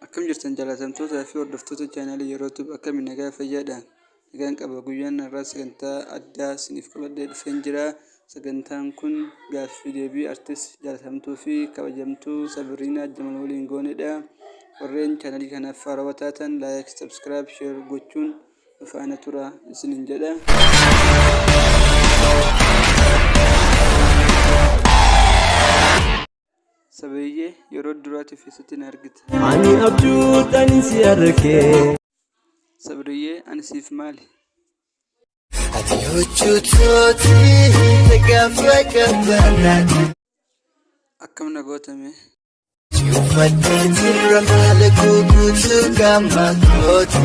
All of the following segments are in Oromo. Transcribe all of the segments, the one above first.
Akkam jirtan jaalatamtootaa fi hordoftoota chaanaalii yeroo tube akkami nagaa fayyaadha nagaan qaba guyyaan har'aa sagantaa addaa isiniif qabadhee dhufeen jira sagantaan kun gaaffii deebii artist jaalatamtuu fi kabajamtuu sabiriinaa jamal waliin goonedha warreen chaanaalii kanaaf faarawaa taatan laayik sabskiraayib sheer gochuun nu faana tura isiniin jedha Sabeeyyee yeroo duraatiif eessatti na argite? Ani abjuudhaan si arge. Sabriyyee ani siif maali? Ati hojjettooti gaafa gabbanaati. Akkam na gootame? Uummatni jira maal guutuu gaafa gooti.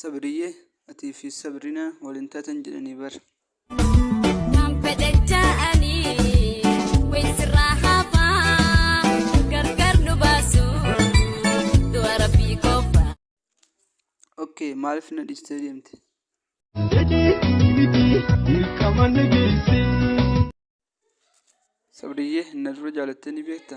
sabriyyee atii fi sabrinaa waliin taatan jedhanii bar Nan fedhe ja'anii wayi sirraa hafaa gargar nu baasu du'a rabbii qofa. ok maaliif na dhiistee deemte sabriyyee na dura jaalattee ni beekta